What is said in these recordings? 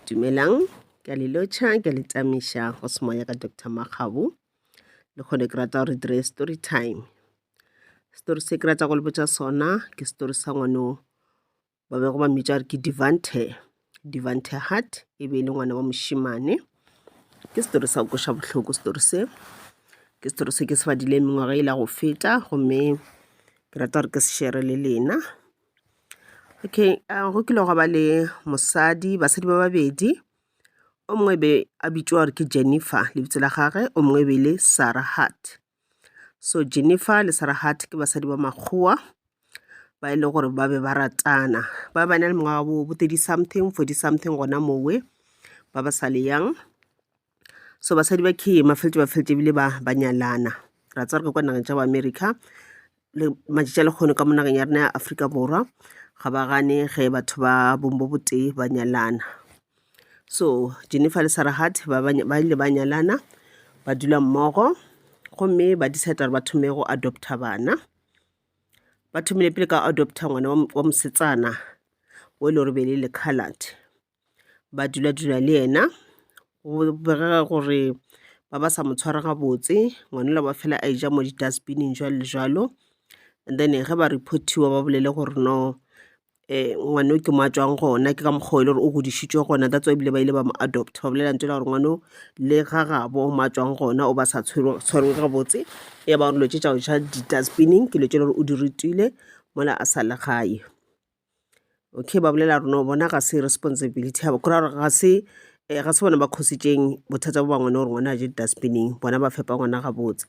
dumelang ke a le lotšha ke a le tamiša go semoya ka dr makgabo le kgone ke rata gore dire story time story se ke rata go le botša sona ke story sa ngwano ba bego ba mmitša gore ke devante devante heart e be e le ngwana wa mošimane ke story sa koša bohloko story se ke story se ke se badile mengwaga e la go feta gomme ke rata gore ke se shere le lena Okay, uh, go kile gwa ba le mosadi, basadi ba babedi. O mongwe be a bitšwa gore ke Jennifer, lebitso la gage, o mongwe be le Sarah Hart. So Jennifer le Sarah Hart ke basadi ba makgowa ba e le gore ba be ba ratana. Ba ba na le mengwaga bo 30 something, 40 something gona mowe ba ba sa le yang. so basadi ba key mafeletše ba feletse ebile ba ba nyalana ra tsaya re kwa nageng tša boamerica le matšatši a lekgono ka mo nageng ya rena ya aforika borwa ga ba gane ge batho ba bong bo botee ba nyalana so jennifer le sarah hart ba ile ba nyalana ba dula mmogo gomme ba decide gore ba thome go adopta bana ba thomile pele ka adopta ngwana wa mosetsana o e le gore be le le colored ba dula-dula le yena. Go bogega gore ba ba sa mo tshwara gabotse, ngwana yola wa fela a eja mo di-dustbin-ing jwalo le jwalo. And then ge ba report-iwa ba bolele gore no ngwana yo ke mo a tšwang gona, ke ka mokgwa o e le gore o godišitšwe gona, that's why ebile ba ile ba mo adopter. Ba bolela lentšu la gore ngwana o le ga gabo mo a tšwang gona o ba sa tshwerwe gabotse, ya ba gore dilo tše tša go ja di-dustbin-ing ke dilo tše e le gore o di rutile mola a sa le gae. Okay, ba bolela rona bona ga se responsibility ya kora gore ga se eh, ga se bona ba khositseng bothata bo ba ngwana gore ngwana a je dustbining bona ba fepa ngwana gabotse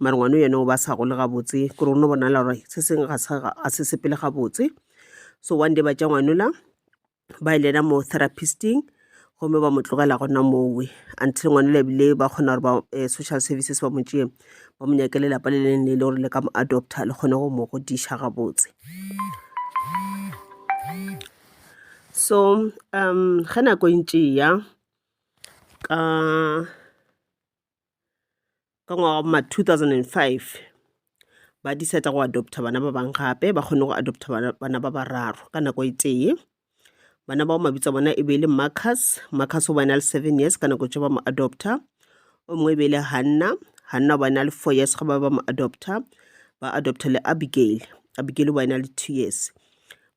mare ngwana yone o ba sa gole gabotse kore ono bonala gore se sengwe ga sa- ga- a se sepele gabotse so one day ba tša ngwanola ba e lena mo therapisting gomme ba mo tlogela gona mowe until ngwana le bile ba kgona gore ba eh, social services ba mo tšee ba mo nyake lelapa le leng le e le gore le ka mo adopta le kgone go mo godiša gabotse so um ge nako e ntše ya ka ka ngwaga ma 2005 ba decide go adopta bana ba bang gape ba kgone go adopta bana ba bararo ka nako e tee bana bao mabitso a bona e be e le marcus marcus o bana le seven years ka nako tse ba mo adopta o mongwe e be e le hanna hanna o bana le four years ga ba ba mo adopta ba adopta le abigail abigail o bana le two years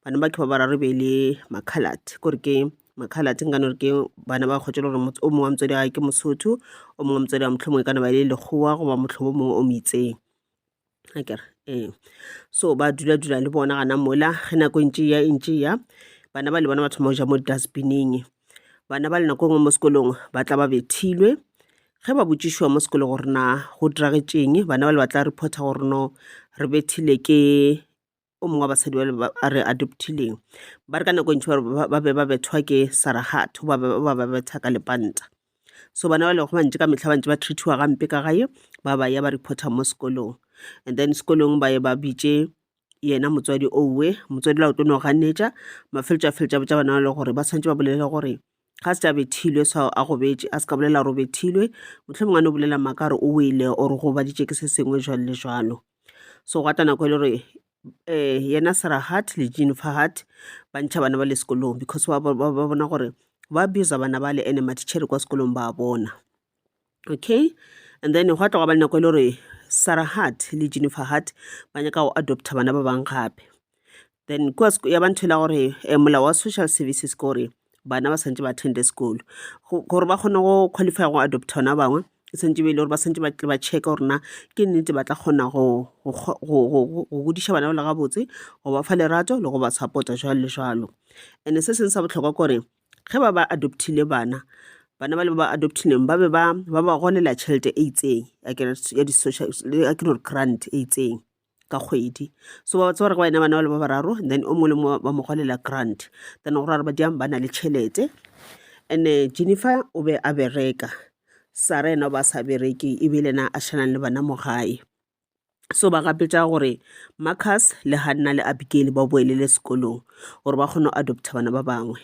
bana ba ke ba bararo e be e le makhalate kore ke makhalate nka no re ke bana ba kgotšele gore o mongwe wa motswadi wa ke mosotho o mongwe wa motswadi wa motlho mongwe ka naba e le lekgowa goba motlhobo mongwe o moitseng a kere ee so ba dula dula le bona gana mola ge nako ntše ya ntše ya bana ba le bona ba thoma go ja mo dustbineng bana ba le nako e nngwe mo sekolong ba tla ba bethilwe ge ba botšišiwa mo sekolo gore na go diragetšeng bana ba le ba tla reporta gore no re bethile ke o mongwe wa basadi ba le ba a re adoptileng ba re ka nako e ntši ba re ba- ba be ba bethwa ke saragatho ba be ba ba betha ka lepanta so bana ba lego bantši ka mehla bantši ba treatiwa gampe ka gae ba ba ya ba reporta mo sekolong and then sekolong ba ye ba bitše yena motswadi owe motswadi la o tlo no ganetša mafeletšo a feletša botša bana ba le gore ba swanetše ba bolele gore ga se tša bethilwe sa a go betše a se ka bolela gore o bethilwe mohlomong a no bolela maaka gore o wele or go baditše ke se sengwe jwalo le jwalo so gwa tla nako e le gore um yena serahat le jean fahat ba ntšha bana ba le sekolong because ba bona gore ba abuse bana ba le ene matitšhere kwa sekolong ba bona okay and then gwa tloga ba nako e le gore sarah hart le jennifer hart ba nyaka go adopta bana ba bang gape then kua ya ba ntho e la gore um molao wa social services ke gore bana ba santse ba attende sekolo gore ba kgone go qualify go adopta ona bangwe e santse be e le gore ba santse batle ba checka gore na ke nnete ba tla kgona go godiša bana ba le gabotse go ba fa lerato le go ba support-a jalo le jalo and-e se sengwe sa botlhokwa kore Ge ba ba adoptile bana, bana bale ba ba adoptileng ba be ba ba ba golela tšhelete e itseng ya ke ya di social ya ke gore grant e itseng ka kgwedi so ba tseba gore go ena bana bale ba bararo and then o mongwe le mongwe ba mo golela grant then go ra gore ba diang ba na le tšhelete and Jennifer o be a bereka sara ena o ba sa bereke e be le ena a šhanang le bana mo gae so ba gapetša gore marcus le hanna le abigail ba boelele sekolong gore ba kgone go adopta bana ba bangwe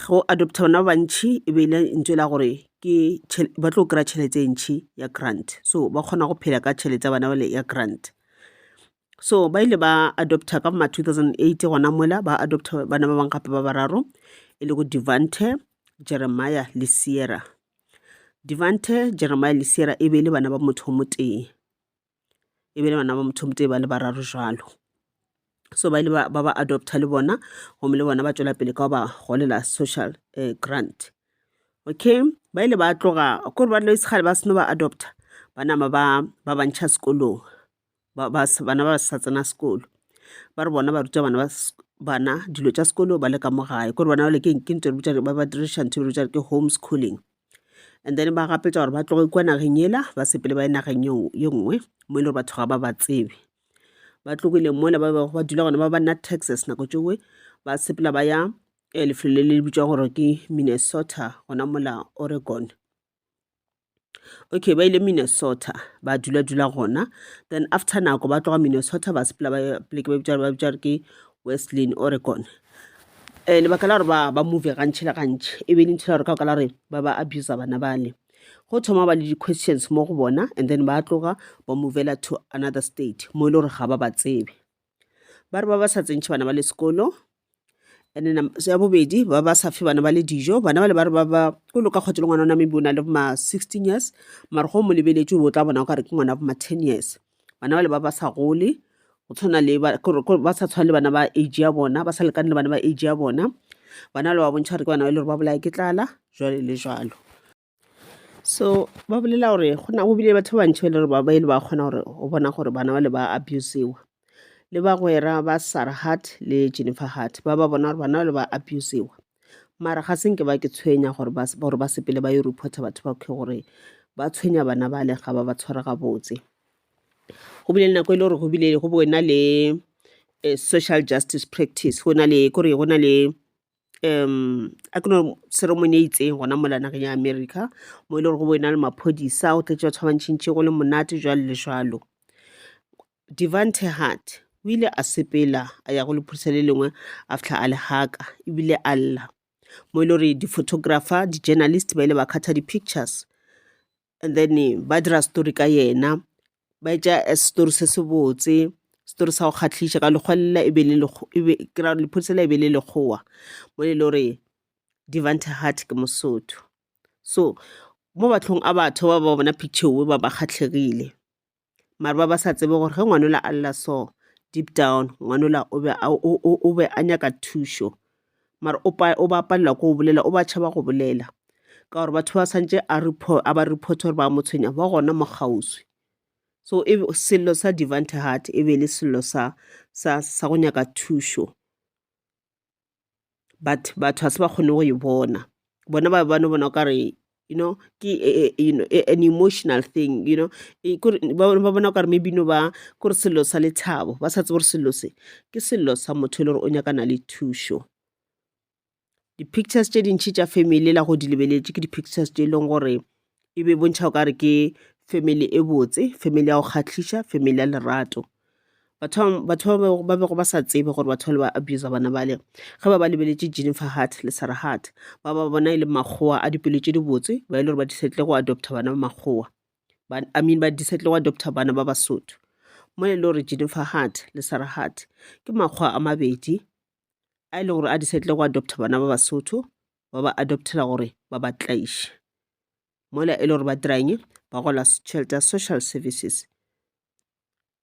go adopta bana ba bantšhi e be ile ntšwe la gore ke ba tlo kry-a tšhelete e ntšhi ya grant so ba kgona go phela ka tšhelete ya bana bale ya grant so ba ile ba adopta ka ma 2008 gona mola ba adopta bana ba bangwe gape ba bararo e le go devante jeremiah le sierra Devante, Jeremia le Sierra e be e le bana ba motho o motee. E be e le bana ba motho o motee ba le bararo jalo. So ba ile ba ba ba adopta le bona, gomme le bona ba tšwela pele ka go ba golela social eh, grant. Okay, ba ile ba tloga, kore ba tlo isekgale ba seno ba adopta, ba nama ba ba bantšha sekolong. bana ba sa tsena sekolo ba re bona ba ruta bana ba bana dilo tša sekolo ba le ka mo gae kore bona jale ke ke ntho re ba ba diriša ntho re ke home schooling and then ba gapetša gore ba tloge kua nageng ela ba sepele ba ye nageng ye nngwe mo e le gore batho ga ba ba tsebe ba tlogile mola ba bego ba dula gona ba ba nna texas nako tšoe ba sepela ba ya eh, lefelo le le bitswa gore ke minnesota gona mola oregon okay ba ile minnesota ba dula dula gona then after nako ba tloga minnesota ba sepela ba pleke ba bitša ba bitša re ke westlin oregon um lebaka la gore ba ba move gantšhi le gantšhi e be e le ntho ya gore ka ka la gore ba ba abusa bana bale go thoma ba le di-questions mo go bona and then ba tloga ba movela to another state mo e le gore ga ba ba tsebe ba re ba ba sa tsentšhe bana ba le sekolo and then ya bobedi ba ba sa fe bana ba le dijo bana ba le ba re ba ba o loka kgwatso le ngwana ona maybe o na le ma sixteen years mara go mo lebeletse o tla bona o kare ke ngwana bo ma ten years bana ba le ba ba sa gole go tshwana le ba kore- kore ba sa tshwana le bana ba age ya bona ba sa lekane le bana ba age ya bona bana ba le ba bontšha gore ke bana ba e le gore ba bolaya ke tlala jwale le jwalo so ba bolela gore go na go bile batho ba bantšhi ba le gore ba ba ile ba kgona gore o bona gore bana ba le ba abusiwa le bagwera ba sarah hart le jennifer hart ba ba bona gore bana ba le ba abusiwa mara ga se nke ba ke tshwenya gore ba se- gore ba sepele ba yo reporta batho ba khe gore ba tshwenya bana bale ga ba ba tshwara gabotse go bile le nako e le gore go bile go bo na le eh, social justice practice go na le kore go na le um a ke no ceremony e itseng gona mola nageng ya america mo e le gore go bo e na le maphodisa go tletše batho ba bantšhintšhi go le monate jwalo le jwalo devante hart o ile a sepela a ya go lephodisa le lengwe a fitlha a le haka ebile a lla mo e le gore di-photographer di-journalist ba ile ba kgatha di-pictures and then ba dira story ka yena, ba etša story se se botse, story sa go kgahliša ka lekgwa lela e be le ke ra lephodisa lela e be le Lekgowa mo e le gore Devante Heart ke Mosotho. So mo matlhong a batho ba ba bona picture yeo ba ba kgahlegile. mare ba ba sa tsebe gore ge ngwanola a lla so deep down ngwanola o be a, o, o, o be a nyaka thušo mare o, pa, o ba palela ko o bolela o ba tšhaba go bolela ka gore batho ba swantše a, report, a ba report gore ba mo tshwenya ba gona mo kgauswi so e, sello sa devante heart e be e le sello sa, sa, sa go nyaka thušo but batho ga se ba kgone go e bona bona ba ba no bona o kare you know ke you know an emotional thing you know ba bona o kare maybe no ba ko re sello sa lethabo ba sa tsebe gore sello se ke sello sa motho e le gore o nyakana le thušo di-pictures tše dintšhi tša family la go di lebeletše ke di-pictures tše e leng gore e be bontšha o ka re ke family e botse family ya go kgahliša family ya lerato batho batho ba bego ba sa tsebe gore batho ba le ba abusa bana bale ge ba ba lebeletše jennifer heart le sarah heart ba ba bona e le makgowa a dipelo tše dibotse ba e le gore ba disetle go adopta bana ba makgowa i mean ba disetle go adopta bana ba basotho mo e le gore jennifer heart le sarah heart ke makgowa a mabedi a e le gore a di setle go adopta bana ba basotho ba ba adoptela gore ba ba tlaiše mola e le gore ba dirang ba gola tšhelete ya social services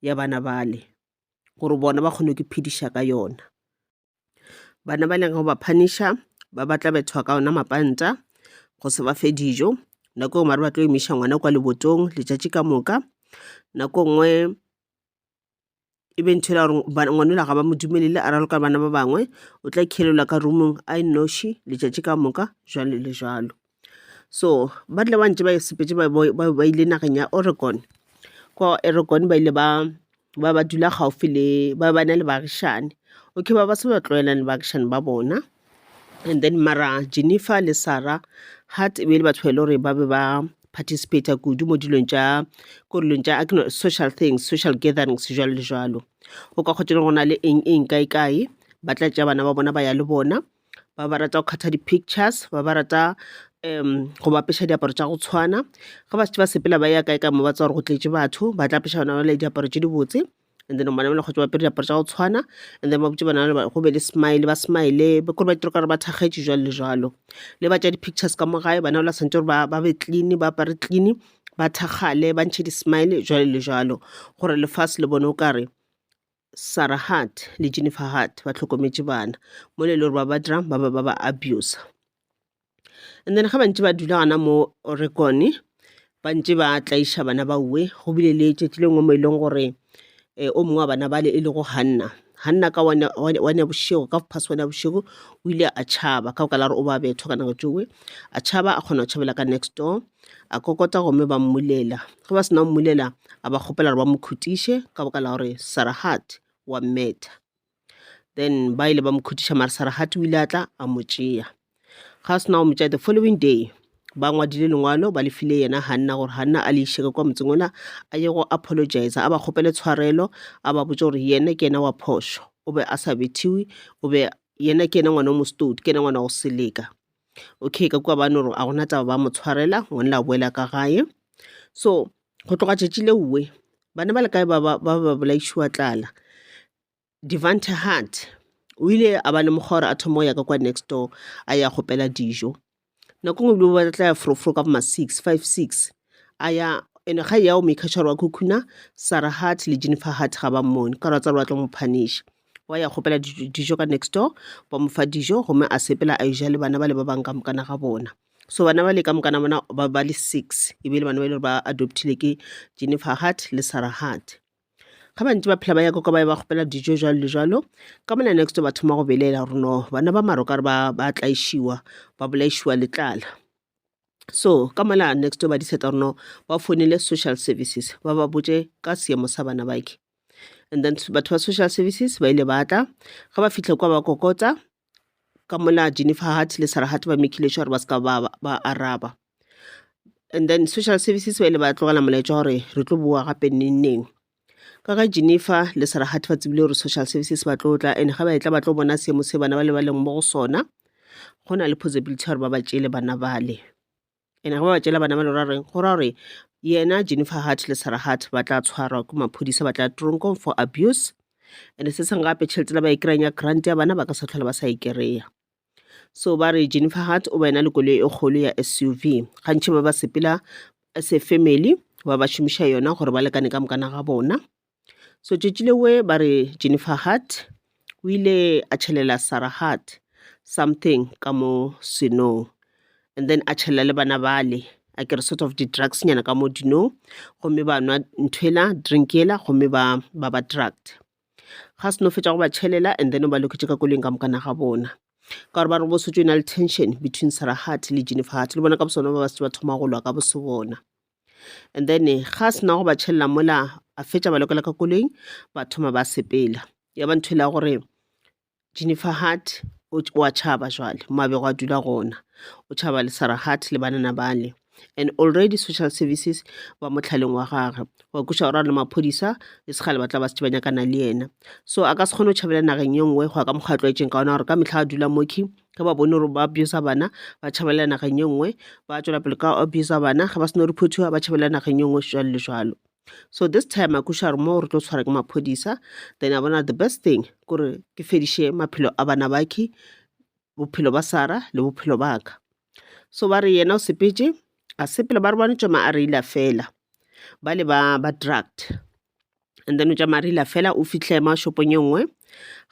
ya bana bale gore bona ba kgone ke phediša ka yona bana ba leng go ba phaniša ba batla bethwa ka ona mapanta go se ba fe dijo nako e ngwe ba tlo emiša ngwana kwa lebotong letšatši ka moka nako nngwe e be ntho ela gore ngwanela ga ba mo dumelele a raloka bana ba bangwe o tla khelelwa ka rumong a e noši letšatši ka moka jalo le jalo so ba tle ba ntse ba e sepetse ba ile nageng ya oregon kwa oregon ba ile ba ba ba dula gaufi le ba ba na le baagišane okay ba ba se ba tlwaelang le baagišane ba bona And then mara Jennifer le Sarah Hart e be e le batho ba e le gore ba be ba participator kudu mo dilong tša ko dilong tša akno social things social gatherings jalo le jalo o ka kgotsa le gona le eng eng kae kae ba tla tša bana ba bona ba ya le bona ba ba rata go kgatha di-pictures ba ba rata um go ba apesha diaparo tša go tshwana ge ba šetše ba sepela ba ya kae ka mo ba tswa gore go tletše batho ba tla apesha bana ba le diaparo tše dibotse and then bana bale kgotsa ba apere diaparo tša go tshwana and then ba botse bana bale go be le smile ba smile kore ba itira gore ba thakgetše jwalo le jwalo le ba tša di-pictures ka mo gae bana bale ba swanetše gore ba be clean ba apare clean ba thakgale ba ntšhe di-smile jwalo le jwalo gore lefase le bone o kare Sarah Hart le Jennifer Hart ba hlokometše bana mo le le gore ba ba dirang ba ba ba ba abuser And then ga ba ntse ba dula gona mo Oregon, ba ntse ba tlaiša bana ba uwe go bile le tšatši le nngwe mo e leng gore um o mongwe wa bana bale e lego Hanna. Hanna ka one ya bošego, ka phase one ya bošego, o ile a tšhaba ka baka la gore o ba bethwa ka nako tšowe. A tšhaba a kgona go tšhabela ka next door, a kokota gomme ba mmulela. Ge ba sena go mmulela, a ba kgopela gore ba mo khutiše ka baka la gore Sarah Hart wa mmetha. then ba ile ba mo khutiša mara saragati o ile a tla a mo tšea ga sena go mo tšea the following day ba ngwadile lengwalo ba lefile yena ganna gore ganna a le išeke kwa motseng ona a ye go apologize a ba kgopele tshwarelo a ba botse gore yena ke yena wa phošo o be a sa bethiwe o be yena ke yena ngwana o mostodi ke yena ngwana go seleka okay ka kua bane gore a gona taba ba mo tshwarela ngwane la boela ka gae so go tloga tšatši leowe bana ba le kae ba ba ba ba bolaišiwa tlala Devante Hart o ile a ba lemoga gore a thoma go ya ka kwa next door a ya gopela dijo nako nngwe bile ba tla ya frofro ka boma six five six a ya ene ga ya o maker sure wa khukhuna sara heart le jennifer heart ga ba mmone ka gore ba tsa gore ba tlo mo punish wa ya gopela dijo dijo ka next door ba mo fa dijo gomme a sepela a eja le bana ba le ba bang ka mokana ga bona so bana ba le ka mokana bona ba ba le six e be e le bana ba e le gore ba adoptile ke jennifer hart le sarah hart ga ba ntse ba phela ba ya koko ba ya ba kgopela dijo jalo le jalo ka mona next ba thoma go belela gore no bana ba maro ka re ba ba tlaišiwa ba bolaišiwa letlala so ka mola next ba di seta gore no ba founele social services ba ba botse ka seemo sa bana bake and then batho ba social services ba ile ba tla ga ba fitlhe kwa ba kokotsa ka mola Jennifer Hart le Sarah Hart ba mekile sure ba ska ba, ba araba and then social services ba ile ba tlogela molaetša gore re tlo boa gape neng neng ka ga Jennifer le Sarah Hart ba tsebile gore social services ba tlo tla and ga ba etla ba tlo bona seemo se bana ba le ba leng mo go sona go na le possibility gore ba ba tšele bana bale Ene ge ba ba tšela bana ba lora reng go ra gore yena Jennifer Hart le Sarah Hart ba tla tshwarwa ke maphodisa ba tla tronkong for abuse and se seng gape tšhelete la ba e kry-ang ya grant ya bana ba ka sa tlhola ba sa e kry-a so ba re Jennifer Hart o ba ena le koloi e kgolo ya SUV gantši ba ba sepela as a family ba ba šomiša yona gore ba lekane ka mokana ga bona So tšatši lewe ba re Jennifer Hart o ile a tšhelela Sarah Hart something ka mo senong and then a tšhelela le bana bale a kere sort of di-drugs nyana ka mo dinong gomme ba nwa nthwela drink yela gomme ba ba ba drugged. Ga se no fetša go ba tšhelela and then o ba loketše ka koloing ka mokana ga bona ka gore ba re go bo se tšo e na le tension between Sarah Hart le Jennifer Hart le bona ka bosona ba ba se ba thoma go lwa ka bose bona. and then ga se nago ba tšhelela mola a fetša ba lokela ka koloing ba thoma ba sepela ya ba ntho e la gore jennifer hart o o a tšhaba jwale mo a bego a dula gona o tšhaba le sarah hart le banana bale and already social services ba motlhaleng wa gagwe wa kuša gore a le maphodisa e se gale ba tla ba se ba nyakana le yena so a ka se kgone go tšhabela nageng ye nngwe go ya ka mokgwa a tlwaetseng ka ona gore ka mehla a dula moki ge ba bone gore ba abuse-a bana ba tšhabalela nageng e nngwe, ba tšwela pele ka abuse-a bana ge ba se no reportiwa ba tšhabalela nageng e nngwe jalo le jalo. So this time a kweša gore mo re tlo tshwara ke maphodisa then a bona the best thing kore ke fediše maphelo a bana bake, bophelo ba Sarah le bophelo ba ka. So ba re yena o sepetše, a sepela ba re ba no tšama a reila fela bale ba ba drugged. and then o tšamaya re ila fela o fihle ma shopong e nngwe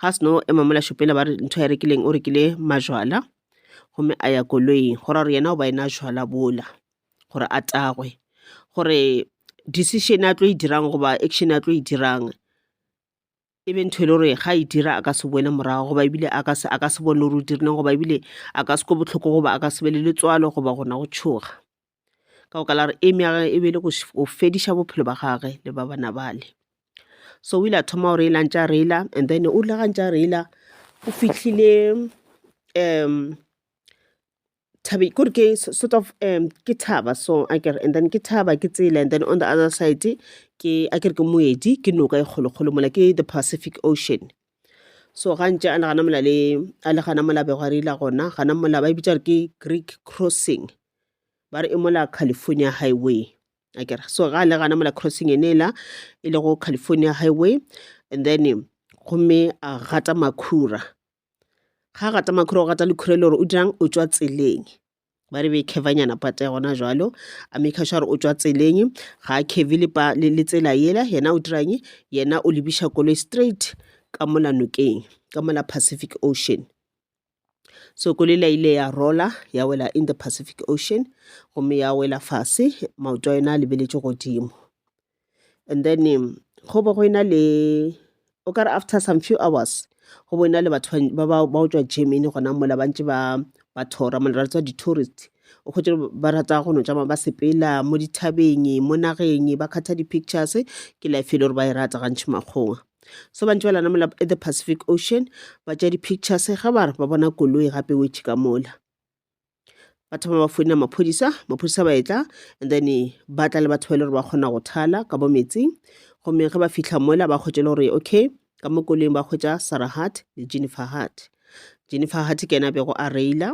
ga seno ema mola shopela ba re ntho ya rekileng o rekile majwala gomme a ya koloing go ra gore yena o ba ena jwala bola gore a tagwe gore decision a tlo e dirang goba action a tlo e dirang e be ntho e le gore ga e dira a ka se boele morago goba ebile a ka se a ka se bone gore o dirileng goba ebile a ka se kwe bohloko goba a ka se be le letswalo goba gona go tšhoga. ka baka la gore aim ya gagwe e be e le go fediša bophelo ba gagwe le ba bana bale. So o ile a thoma go reila a ntše a reila and then o rile ga ntše a reila o fihlile thabeng kore ke sort of ke thaba so akere and then ke thaba ke tsela and then on the other side ke akere ke moedi ke noka e kgolokgolo mola ke the pacific ocean so ga ntše a nagana mola le a le gana mola bego a reila gona gana mola ba e bitša gore ke greek crossing ba re e mola California Highway a kere so ga le gana mola crossing ene la e le go California Highway and then gomme a gata makhura ga a gata makhura o gata lekhura le gore o dirang o tswa tseleng ba re be khevanyana pata ya gona jalo a maker sure o tswa tseleng ga a kheve le tsela yela yena o dirang yena o lebiša koloi straight ka mola nokeng ka mola Pacific Ocean Sokolela ile ya rola ya wela in the Pacific Ocean gomme ya wela fase maoto a yona a lebeletše godimo and then um, go bo go ena le o kare after some few hours go bo ena le batho ba ba ba otswa germany gona mola ba ntse ba ba thora mola ra tswa di-tourist o kgwetse ba rata go no tšama ba sepela mo dithabeng mo nageng ba kgatha di-pictures ke life e le gore ba e rata gantšhi makgong so bantši ba lanamola the pacific ocean ba tša di-pictures ge ba re ba bona koloi gape wetše ka mola ba thoma ba founela maphodisa maphodisa ba etla and then ba tla le batho ba e le gore ba kgona go thala ka bo metsing gomme ge ba fitlha mola ba kgwetše le gore okay ka mo koloing ba kgwetša sarah hart le jennifer hart jennifer hart ke ena bego a reila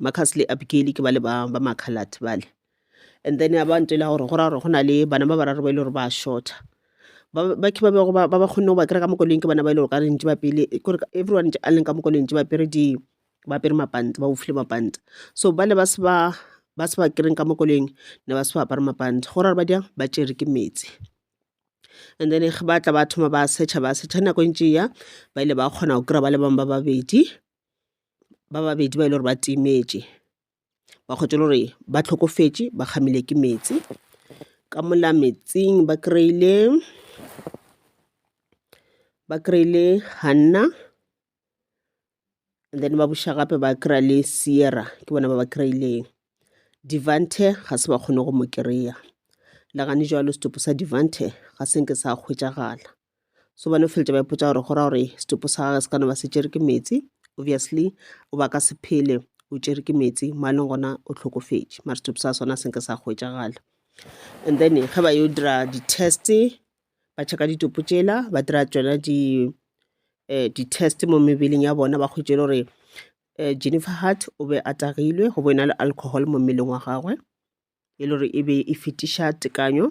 Marcus le Abigail ke bale ba ba makhalat bale and then ba ntela gore go ra gore go na le bana ba bararo ba ile e gore ba shorta ba ba ke ba bego ba ba ba kgonne go ba kry ka mokoloing ke bana ba ile gore ka re ntse ba pele e kore everyone a leng ka mokoloing ntse ba pere di ba pere mapanta ba bofile mapanta so ba le ba se ba ba se ba kereng ka mokoloing ne ba se ba apare mapanta go ra gore ba diang ba tšere ke metsi and then ge ba tla ba thoma ba searcha ba searcha nako e ntše ya ba ile ba kgona go kry-a ba le bangwe ba babedi ba babedi ba e le gore ba timetše ba kgwetše le gore ba hlokofetše ba kgamile ke meetse ka mola meetseng ba kry-ile ba kry-ile Hanna and then ba buša gape ba kry-a le Sierra ke bona ba ba kry-ileng. Devante ga se ba kgone go mo kry-a le gane joale setopo sa Devante ga se nke sa hwetšagala. so ba no feletša ba ipotsa gore go ra gore setopo sa gage se ka no ba se tšere ke meetse obviously o ba ka se phele o tšere ke meetse mo a leng gona o tlhokofetše mara setopo sa sona se nke sa hwetšagala and then ge ba yo dira di-test ba checka ditopo tšela ba dira tsona di eh, di-test mo mebeleng ya bona ba kgwetše le gore eh, jennifer hart o be a tagilwe go bo e na le alcohol mo mmeleng wa gagwe e le gore e be e fetiša tekanyo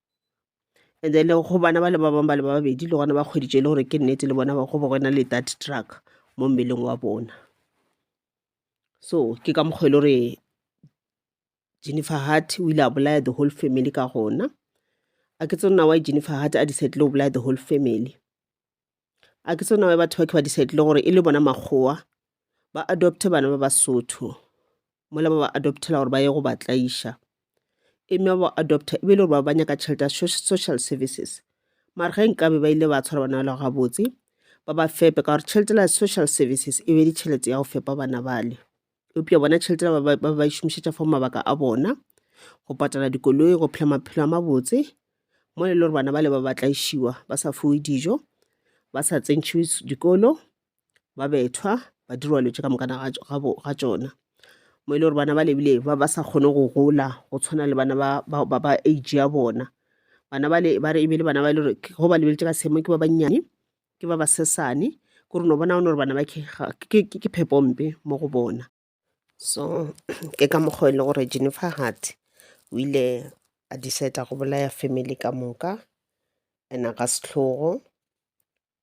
and then go bana ba le ba bangwe ba le ba babedi le gona ba kgweditše e le gore ke nnete le bona go ba go na le that truck mo mmeleng wa bona so ke ka mokgwa e le gore jennifer hart o ile a bolaya the whole family ka gona a ke tsone na wa jennifer hart a decide le go bolaya the whole family a ke tsona batho ba ke ba decidile gore e le bona makgowa ba adopte bana ba basotho mola ba ba adoptela gore ba ye go ba tlaiša e mme ba adopta e be e le gore ba ba nyaka tšhelete ya social services mare ge nkabe ba ile ba tshwara bana bale gabotse ba ba fepe ka gore tšhelete la social services e be ditšhelete ya go fepa bana bale eupša bona tšhelete ba ba- ba ba e šomišetša for mabaka a bona go patala dikoloi go phela maphelo a mabotse mo e le gore bana ba le ba ba tlaišiwa ba sa fiwe dijo ba sa tsentšhiwe s- dikolo ba bethwa ba dirwa letse ka mokana ga tš- ga bo- ga tšona mo e le gore bana ba lebile ba ba sa kgone go gola go tshwana le bana ba- ba ba- ba age ya bona bana ba le ba re e be le bana ba e le gore ke- go ba lebeletse ka seemo ke ba bannyane ke ba basesane kore no bona one gore bana ba ke phepompe mo go bona so ke ka mokgwa e le gore jennifer hart o ile a decide go bolaya family ka moka ena ka setlhogo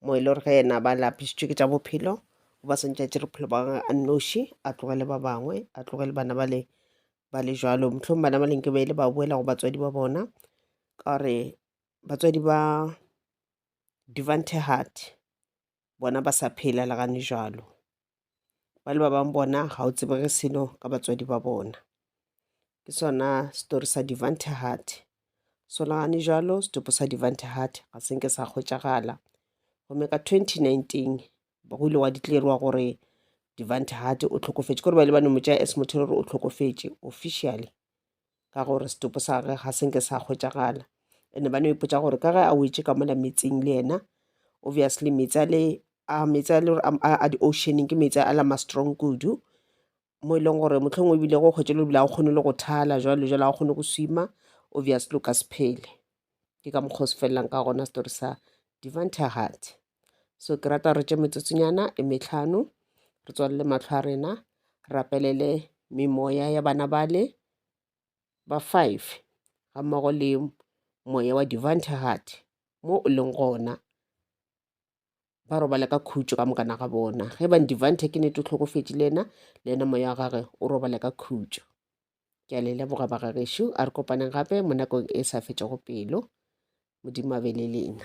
mo e le gore ge ena ba lapisitswe ke tša bophelo o ba swantse a tše bophelo ba gage a nnoši a tlogele ba bangwe a tlogele bana ba le ba le jalo motlhong bana ba leng ke ba ile ba boela go batswadi ba bona ka gore batswadi ba Devante Hart bona ba sa phela le gane jalo ba le ba bang bona ga o tsebege selo ka batswadi ba bona ke sona story sa Devante Hart so le gane jalo setopo sa Devante Hart ga se nke sa kgwetšagala gomme ka 2019 go ile wa di tlerwa gore Devante Hart o tlhokofetše gore ba ile ba no mo tšea as motho gore o tlhokofetše officially ka gore setopo sa gage ga senke sa hwetšagala ene ba no ipotsa gore ka ge a wetše ka mola metsing le yena obviously metsi a le a metsi a le gore a di-oceaning ke metsi a la ma strong kudu mo e leng gore motlhong o ebile go kgwetse lo bile a o kgone le go thala jalo jalo a o kgone go swima obvious lo ka se phele ke ka mokgwa o se felelang ka gona story sa divine tahat so ke rata re tše metsotsonyana e metlhano re tswalele matlho a rena rapelele memoya ya bana bale ba five ga mmogo le moya wa divine tahat mo o leng gona ba robala ka khutšo ka mokana ga bona ge bang divante ke nete o tlhokofetše le ena le ena moya wa gage o robala ka khutšo ke a le leboga bagagešo a re kopaneng gape mo nakong e sa fetšego pelo modimo a be le lena